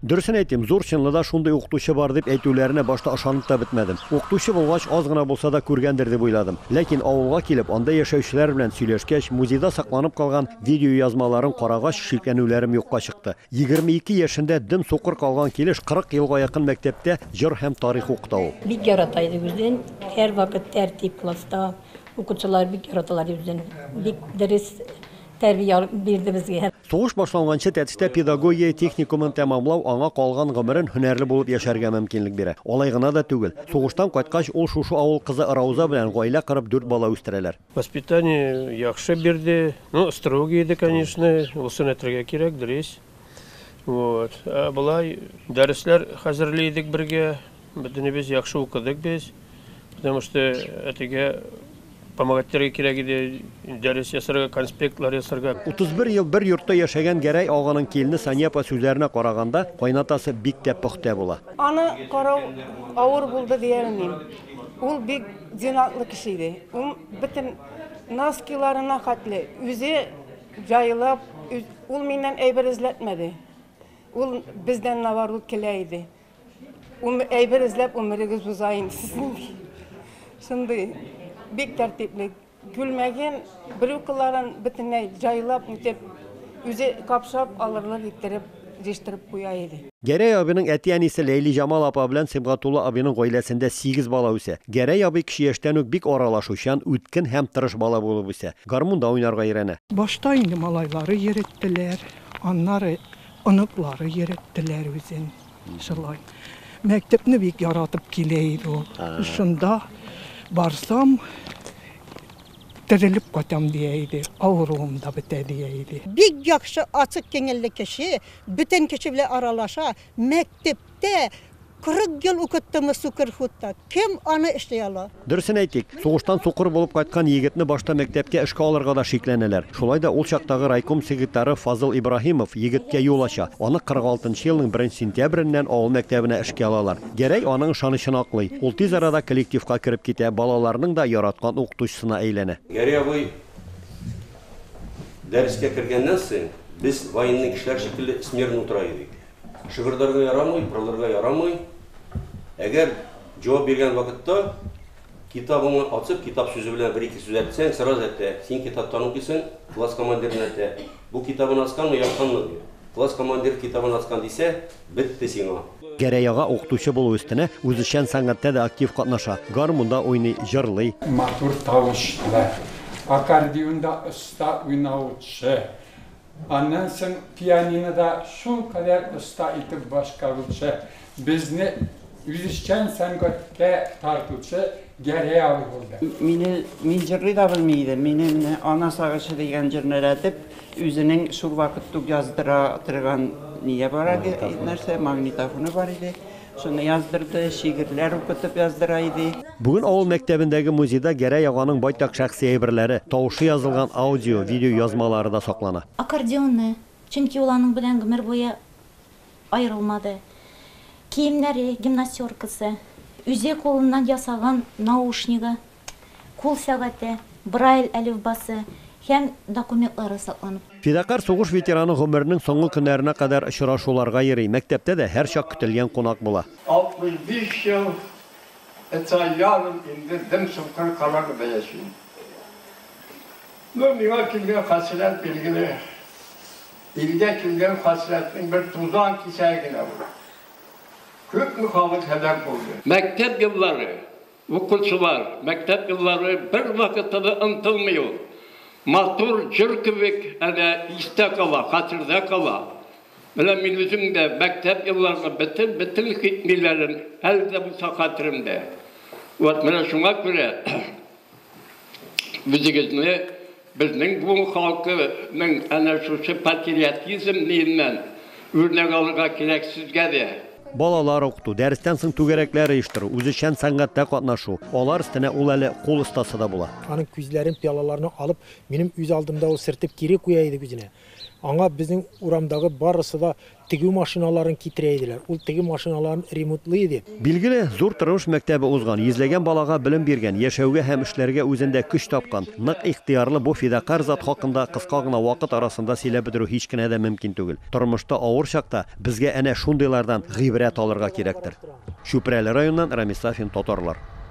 Дөресен әйтим, зур чынлыда шундый укытучы бар дип әйтүләренә башта ышанып та бетмәдем. Укытучы булгач, аз гына булса да күргәндер дип уйладым. Ләкин авылга килеп, анда яшәүчеләр белән сөйләшкәч, музейда сакланып калган видеоязмаларын карагач, шикләнүләрем юкка чыкты. 22 яшендә дөм сукыр калган килеш 40 елга якын мәктәптә җыр һәм тарих укыта ул. Бик ярата иде үзен, һәрвакыт тәртип класста, укучылар бик яраталар иде үзен. Бик дөрес тәрбия бирде безгә. Сугыш башланганчы Тәтештә педагогия техникумын тәмамлау аңа калган гомерен һөнәрле булып яшәргә мөмкинлек бирә. Алай гына да түгел, сугыштан кайткач, ул шушы авыл кызы Рауза белән гаилә корып, дүрт бала үстерәләр. Воспитание яхшы бирде. Ну, строгий иде, конечно, усын әйтергә кирәк, дөрес. Вот. Ә болай, дәресләр хәзерли идек бергә. Бөтенебез яхшы укыдык без, потому что әтигә помогать итәргә кирәк иде, дәрес ясарга, конспектлар ясарга. 31 ел бер йортта яшәгән Гәрәй аганың килене Сания апа сүзләренә караганда, кайнатасы бик тә пөхтә була. Аны карау авыр булды дия алмыйм. Ул бик зиннәтле кеше иде. Ул бөтен носкиларына хәтле үзе җайлап, ул миннән әйбер эзләтмәде. Ул бездән наоборот көлә иде. Әйбер эзләп гомерегез уза инде сезнең. Шундый бик тәртипле. Күлмәген, брюкаларын бөтенләй җайлап үтеп, үзе капшап алырлык иттереп җыштырып куя иде. Гәрәй абыйның әти-әнисе Ләйлиҗамал апа белән Сибгатулла абыйның гаиләсендә сигез бала үсә. Гәрәй абый кече яшьтән үк бик аралашучан, үткен һәм тырыш бала булып үсә. Гармунда уйнарга өйрәнә. Башта инде малайлары йөреттеләр, аннары Оныклары йөреттеләр үзен шулай. Мәктәпне бик яратып килә иде ул. Шунда барсам, терелеп кайтам дия иде, авыруым да бетә дия иде. Бик яхшы, ачык кеңелле кеше, бөтен кеше белән аралаша. Төптә, 40 ел укыттымы сукыр хутта, кем аны эшли ала? Дөресен әйтик, сугыштан сукыр булып кайткан егетне башта мәктәпкә эшкә алырга да шикләнәләр. Шулай да ул чактагы райком секретары Фазыл Ибраһимов егеткә юл ача, аны 46 нчы елның беренче сентябреннән авыл мәктәбенә эшкә алалар. Гәрәй аның ышанычын аклый. Ул тиз арада коллективка кереп китә, балаларының да яраткан укытучысына әйләнә. Гәрәй абый дәрескә кергәннән соң, без военный кешеләр шикелле смирно утыра идек. Шыгырдарга ярамый, пырылырга ярамый. Әгәр җавап биргән вакытта китабыңны ачып, китап сүзе белән бер-ике сүз әйтсәң, сразу әйтә, син китаптан укыйсың, класс командирына әйтә. Бу китабын ачканмы, япканмы? ди. Класс командиры китабын ачкан дисә, бетте сиңа. Гәрәй ага укытучы булу өстенә, үзешчән сәнгатьтә дә актив катнаша, гармунда уйный, җырлый. Матур тавышлы, аккордеонда оста уйнаучы, Аннан соң пианинода шулкадәр оста итеп башкаручы, безне үзешчән сәнгатькә тартучы Гәрәй абый булды. Мине, мин җырлый да белми идем, мине менә Ана сагышы дигән җырны рәтеп, үзенең шул вакыт тук яздыра торган ние бар иде, нәрсә, магнитофоны бар иде. Шуны яздырды, шигырьләр укытып яздыра иде. Бүген авыл мәктәбендәге музейда Гәрәй аганың байтак шәхси әйберләре, тавышы язылган аудио, видеоязмалары да саклана. Аккордеоны, чөнки ул аның белән гомер буе аерылмады. Киемнәре, гимнастеркасы, үзе кулыннан ясаган наушнигы, кул сәгате, Брайль әлифбасы һәм документлары сакланып тора. Фидакарь сугыш ветераны гомеренең соңгы көннәренә кадәр очрашуларга йөри, мәктәптә дә һәрчак көтелгән кунак була. 65 ел өч ай ярым инде дөм-соңгы Канадада яшим. Ну, миңа килгән хәсрәт, билгеле, илгә килгән хәсрәтнең бер тузан кисәге генә ул. Күпме халык һәлак булды. Мәктәп еллары, Укучылар, мәктәп еллары бервакытта да онтылмый ул. Матур җыр кебек әле истә кала, хәтердә кала. Менә мин үзем дә мәктәп елларының бөтен, бөтен хитмиләрен әле дә булса хәтеремдә. Вот менә шуңа күрә үзегезне, Безнең буын халкының әнә шушы патриотизм ниеннән үрнәк алырга кирәк сезгә дә? Балалар укыту, дәрестән соң түгәрәкләр оештыру, үзешчән сәнгатьтә катнашу, алар өстенә ул әле кул остасы да була. Аның күзләрен, пыялаларны алып, минем үз алдымда ул сертеп кире куя иде үзенә. Аңа безнең урамдагы барысы да Тегү машиналарын китерә иделәр. Ул теге машиналарын ремонтлый иде. Билгеле, зур тормыш мәктәбе узган, йөзләгән балага белем биргән, яшәүгә һәм эшләргә үзендә көч тапкан, нык ихтыярлы бу фидакарь зат хакында кыска гына вакыт арасында сөйләп бетерү һич кенә дә мөмкин түгел. Тормышта авыр чакта безгә әнә шундыйлардан гыйбрәт алырга кирәктер. Чүпрәле районыннан Рамис Сафин, Татарлар.